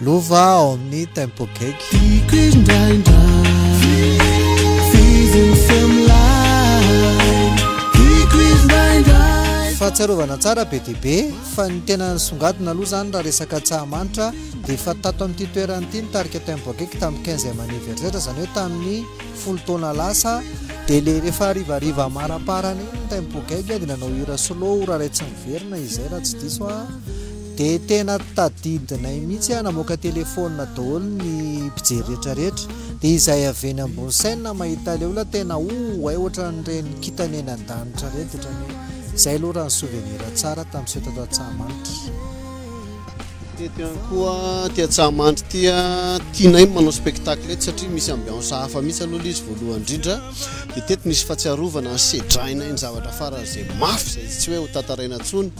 Lova ao amin'ny Tempo Cake. Tiako indraindray Fiziny semilay Tiako indraindray Fahatsiarovana tsara be dia be fa ny tena nisongadina aloha izany raha resaka tsahamanitra dia efa tato amin'ity toerana ity ny tarika Tempo Cake tamin'ny quinzième anniversaire izany hoe tamin'ny folo taona lasa dia ilay rehefa harivariva amaraparana iny ny Tempo Cake dia nanao hira solo ora iray tsy miverina izay raha tsy diso aho De tena tadidinay mihitsy ah, namoaka telephone daholo ny mpijery rehetra rehetra, de izay avy eny ambony chaine mahita ilay olona tena oh ay ohatran'ireny kintana eny an-danitra ireny, de ohatran'ny hoe izay aloha raha ny souvenir tsara tamin'ny fety ato Antsahamanitra. Fety ihany koa aty Antsahamanitra ity ah, tianay ny manao spectacle eto satria misy ambiance hafa mihitsy aloha ilay izy voalohany indrindra, de teto misy fahatsiarovana, sedrainay ny zavatra farany izay mafy izay tsy hoe hotantaraina intsony.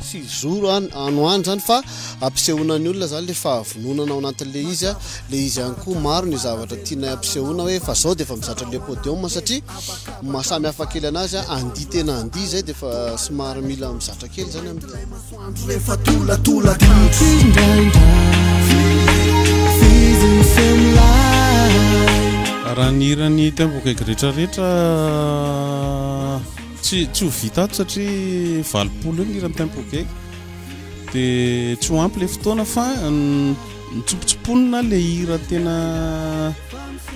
Tsy zoro an ano any zany fa ampisehoana ny olona zany le fahavononana ao anatin le izy an, le izy ihany koa maro ny zavatra tianay ampisehoana hoe efa zao de efa mizatra le podium satria maha samy hafa kely anazy an andihy tena andihy zay de efa somary mila mizatra kely zany am Ilay masoandro rehefa tolatolaka Tsy indraindray Fizy ny feo milay Raha ny hiran'i Taimbok'aigretraretra Tsy tsy ho vita ato satria valopolo eo ny hiran'ny Tempo Gay dia tsy ho ampy ilay fotoana fa nitsopotsoponina ilay hira tena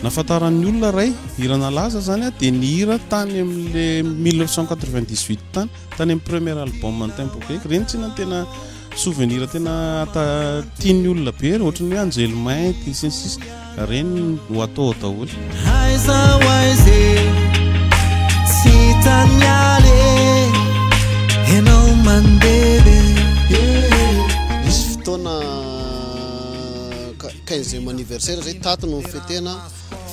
nafantaran'ny olona ray hirana laza zany a dia ny hira tany amin'le 1998 tany tany amin'ny premier album ny Tempo Gay ireny tsinona tena Souvenir tena ata tian'ny olona be re, ohatran'ny hoe anjely mainty sy ny sisa, ireny no atao ao daholo. Aiza ho aiza e, tsy hitan'ny aly e, ianao mandeha be e. Nisy fotoana 15 anniversaire zay, tato no nifetena.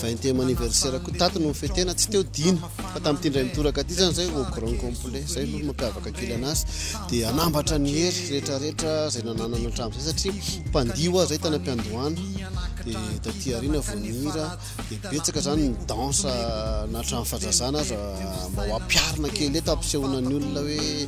20ème anniversaire ko tato no nifetena tsy teo dimy fa tamin'ity indray mitoraka ity zany zay au grand complet zay aloha no mampiavaka kely anazy dia anambatra ny hery rehetra rehetra zay nananana hatramin'izay satria mpandio aho zay tany am-piandohana dia taty aoriana vao nihira dia betsaka zany ny danse na hatramin'ny fahazazana aza mba ho ampiharina kely eto ampisehoana ny olona hoe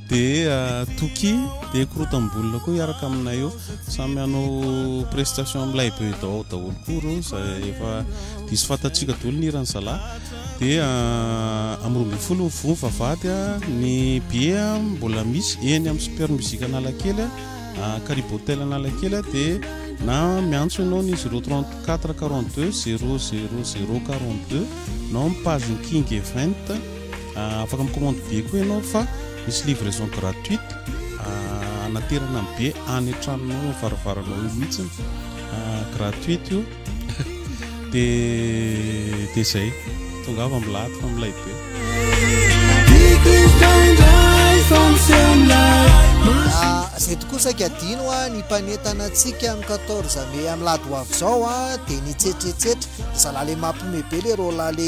Dia Toky dia korotam-bolona koa hiaraka aminay eo. Samy hanao prestation amin'ilay Beudao ao daholo koa ireo izay efa diso fantatsika daholo ny hiran'ny zalahy. Dia ah, amin'ny roa ambin'ny folo ny voa mivavahady a, ah, ny billet ah, mbola misy eny amin'ny Super Musique Analakely, ah, Caribe Hotel Analakely dia na miantso ianao ny 034 42 00 042 nao amin'ny page King Event. Ah, afaka mi-commande billet koa ianao fa misy livraison gratuite ah, anaterana ny billet any an-tranonao no varavaranao io mihitsy ah, gratuite io de de zay tongava milady fa milay be zay tokoa saika adino a ny mpanentana antsika amin'ny 14 mai amin'ny lady ho avy izao a dia nitsetretsetra zalahy le mampime be le roalahy le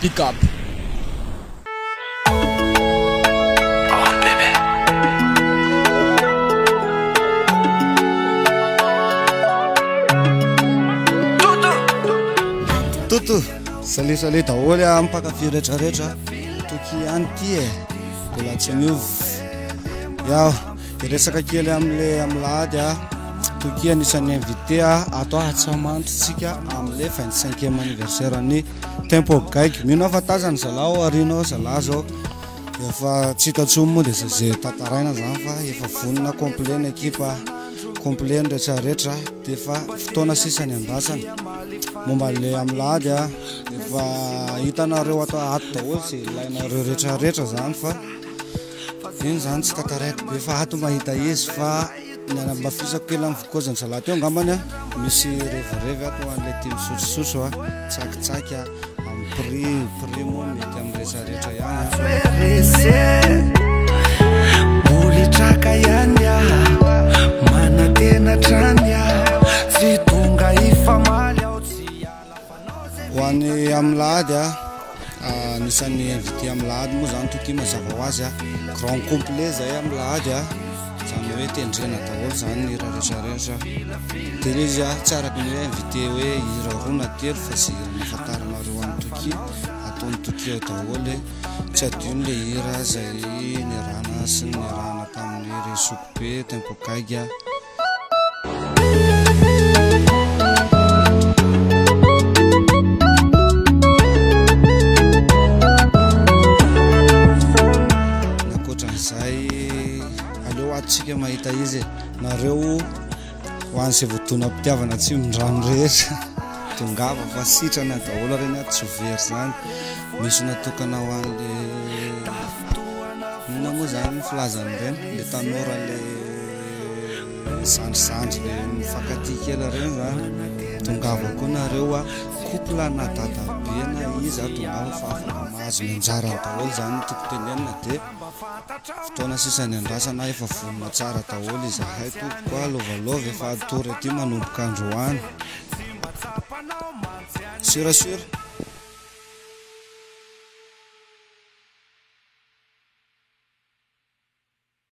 Big up. Toto, salut salut daholo a mpankafy rehetrarehetra toky ihany ty e mbola tsy miova yao de resaka kely amle amilady a toky anisan'ny invité a ato ahatsamantitsika amle vingt cinquième anniversaire ny tempo gaigy mino aho fa tazany zala ao arina ao zala zao efa tsy hita tsony moa dia zay tantaraina zany fa efa vonona complet ny ekipa complet ny rehetra rehetra dia efa fotoana sisa ny andrasana momba le amin'ny lahady a efa hitanareo ato ato daholo zay ilainareo rehetra rehetra zany fa iny zany tsy tantaraiko be fa ato mahita izy fa Niara-nibafisako kely amin'ny vokoazin'ny salady teo angambany aho. Misy revirevy ato ho an'ilay tia misotrosotro, tsakitsaky amin'ny prix. Ny prix moa mety amin'ny rehetra rehetra ihany. Mbola traka ihany aho, manantena hatrany aho, tsy tonga hifamaly aho. Ho any Amilahady, anisan'ny invité Amilahady moa zany Toty mazava ho azy, grand complet zay Amilahady, zany hoe tendrena daholo zany ny hira rehetra rehetra, de le izy tsy araka ny hoe invité hoe hira roa na telo fa ze hira nafantaranareo any Toky ataon'i Toky ao daholo, tsy adino le hira zay niarahana sy niarahana tamin'ny Resoky be, Tempo gaigy. mpitiavana tsy mindrano rehetra dongava fa sitrana daholo reny a tsy very zany misy natokana ho an'le ina moa zany filazany reny le tanora le zandrizandry le mifankatia kely reny za tongava koa nareo a couple na dada be na iza tongava fa afaka mahazo ny anjarany daholo zany ny tiako tenenina de fotoana sisa niandrasana efa vonona tsara daholo izahay tompoko a lovalaova efa hatory aty manomboka androany sur à sur